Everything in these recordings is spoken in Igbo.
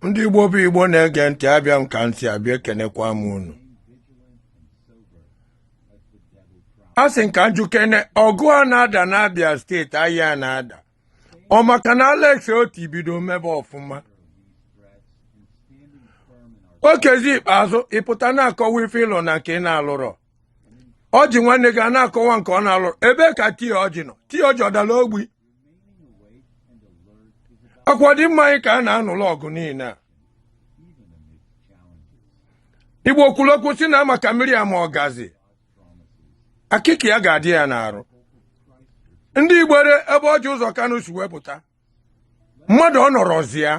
ndị igbo bụ igbo na-ege ntị abịa m ka m si abịa ekenekwa m unu a sị m ka m jụkene ọgụ a na-ada n'abia steeti aya a na-ada ọ maka na alex otti bido mebe ọfụma okezie ikpeazu ị pụta na-akọwa ife ị lụ na nke ị na-alụrọ orji nwanne gị a na-akọwa nke ọ na-alụrọ ebee ka t a orji nọ t a orji ọ dala ogbi ọ kwa ọdịmma anyị ka a na-anụlụ ọgụ niine a igbo kwuru okwu sị na maka mmiri ama ọgazi akịka ya ga-adị ya n'arụ ndị igbere ebe orji uzor kanu si wee pụta mmadụ ọ nọrọzi ya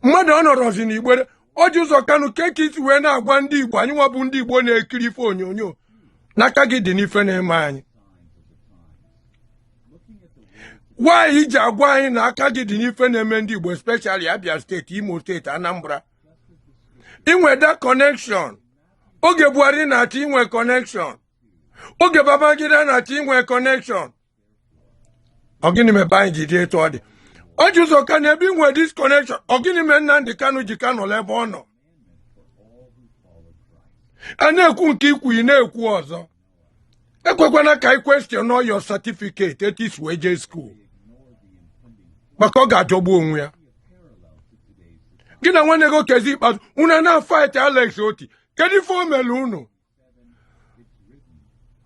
mmadụ ọ nọrọzi na igbere orji uzor kanu kee ka i si wee na-agwa ndị igbo anyị nwa bụ ndị igbo na-ekiri ife onyonyo na aka gị dị n'ife na-eme anyị nwa i ji agwa anyị na aka gị dị n'ife na-eme ndị igbo especially abia steeti imo steeti anambra i nwe that connection oge buhari na-achị i nwe connection oge babangida na-achị i nwe connection ọ gịnị mebe anyị ji dị etu ọ dị Orji Uzor Kanu ebe i nwe this connection ọ gịnị mee Nnamdi Kanu ji ka nọ ebe ọ nọ a na-ekwu nke i kwu ị na-ekwu ọzọ ekwekwana ka anyị question all your certificate etu i si wee jee skuul maka ọ ga-ajọgbu onwe ya gị na nwanne gị Okezie Ikpeazu unu na-afight Alex Otti kedu ife o mere unu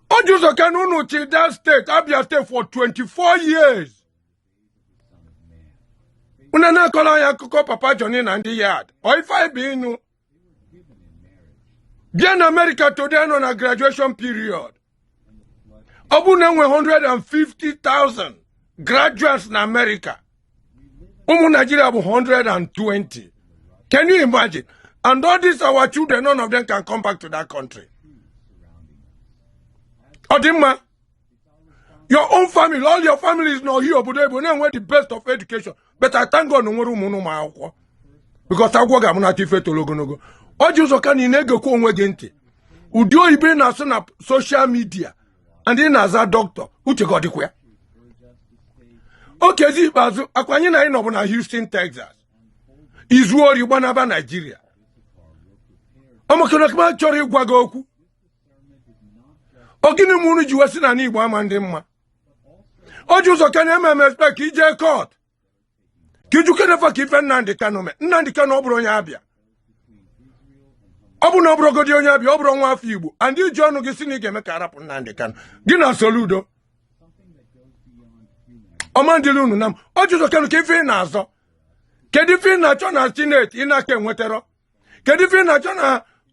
Orji Uzor Kanu unu chị that state abia state for 24 years unu na-akọrọ anyị akụkọ papa Johnny na ndị yard ọ ife anyị bụ ịnụ bịa na America today nọ na graduation period ọ bụrụ na e nwe 150,000 graduates na America ụmụ naijiria bụ 120 can you imagine and all these our children none of them can come back to that country ọ dị mma your own family all your families nọ here obodo oyibo na-enwe the best of education but I thank God na i nwere ụmụ ma akwụkwọ because agwọ ga-amụ na ife toro ogologo Orji Uzor Kanu ị na-egekwa onwe gị ntị ụdị oyibo ị na-asụ na social media and ị na-aza doctor uche gị ọ dịkwa ya Okezie Ikpeazu ọ kwa anyị na gị nọbu na Houston Texas i zuo ori gbanaba Naijiria ọ maka na a ka m achọrọ ịgwa gị okwu ọ gịnị mee unu ji wee sị na Igbo ama adị mma Orji Uzor Kanu eme escape ije court ka ị jụkene fa kee ife Nnamdị Kanu mee Nnamdị Kanu ọ bụrọ onye Abia ọ bụ na ọ bụrọgodi onye Abia ọ bụrọ nwa afọ Igbo and i ji ọnụ gị sị na ị ga-eme ka a rapụ Nnamdị Kanu gị na Soludo ọ ma ndịla unu na mma Orji Uzor Kalu kee ife ị na-azọ kedu ife ị na-achọ na senate ị na-aka enwetarọ kedu ife ị na-achọ na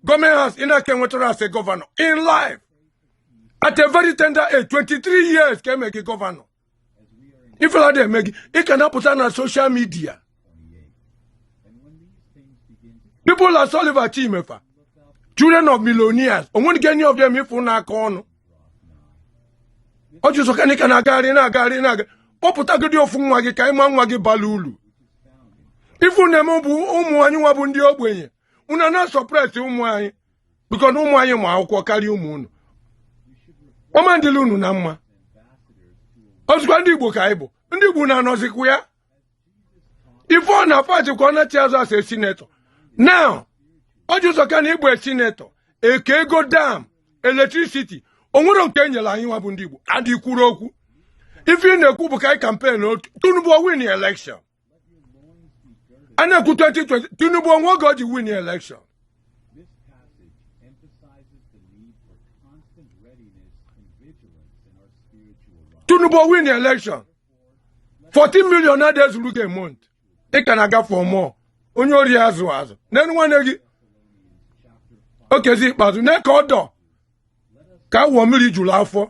government house ị na-aka enwetarọ as a governor in life at a very tender age 23 years ka e mee gị governor ifela adị eme gị ị ka na-apụta na social media people like Sullivan Chime fa children of millionaires o nweghị any of them ị fụ na-aka ọnụ Orji Uzor Kalu ị ka na-agagharị na-agagharị na-aga kpọpụtagodi ofu nwa gị ka anyị ma nwa gị bala ulu ife unu na-eme bụ ụmụ anyị nwa bụ ndị ogbenye unu na-asuppress ụmụ anyị because na ụmụ anyị ma akwụkwọ karịa ụmụ unu ọ ma ndịla unu na mma ọzụkwa ndị Igbo ka anyị bụ ndị Igbo na-anọzikwa ya ife ọ na pati ka ọ na-achị azụ as a senator na Orji Uzor Kalu ị bụ senator e keego dam electricity o nwere nke e nyere anyị nwa bụ ndị Igbo and ị kwurọ okwu ife ị na-ekwu bụ ka anyị campaign otu Tinubu win election a na-ekwu 2020 Tinubu o nwe oge o ji win election Tinubu ọ win election 14 million adị ezuru gị a month ị ka na-aga for more onye ori azụ azụ na-elo nwanne gị Okezie Ikpeazu na-eke ọdọ ka awọ mmiri juru afọ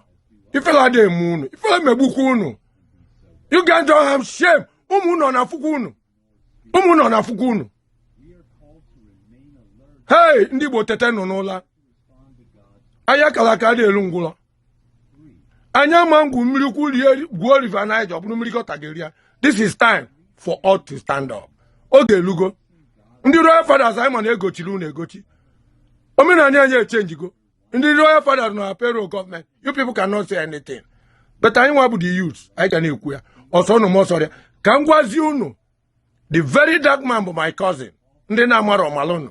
ifela adị eme unu ifela megbukwa unu you guys don't have shame ụmụ unu na-afụkwa unu ụmụ unu na-afụkwa unu hei ndị Igbo tetenụ n'ụla aya a kala aka adị eli ngwụlọ onye ama egwu mmiri kulie gwuo river Niger ọ bụrụ mmiri gọta ga-eri ya this is time for all to stand up oge elugo ndị royal fathers anyị ma na e gochiri unu egochi omenala anyị echenjigo ndị royal fathers nọ na payroll gọọmenti you people cannot say anything but anyị nwa bụ the youth anyị ka na-ekwu ya ọ sọ unu ma ọ sọ ya ka m gwazie unu the very dark man bụ my cousin ndị na-amarọ malụnụ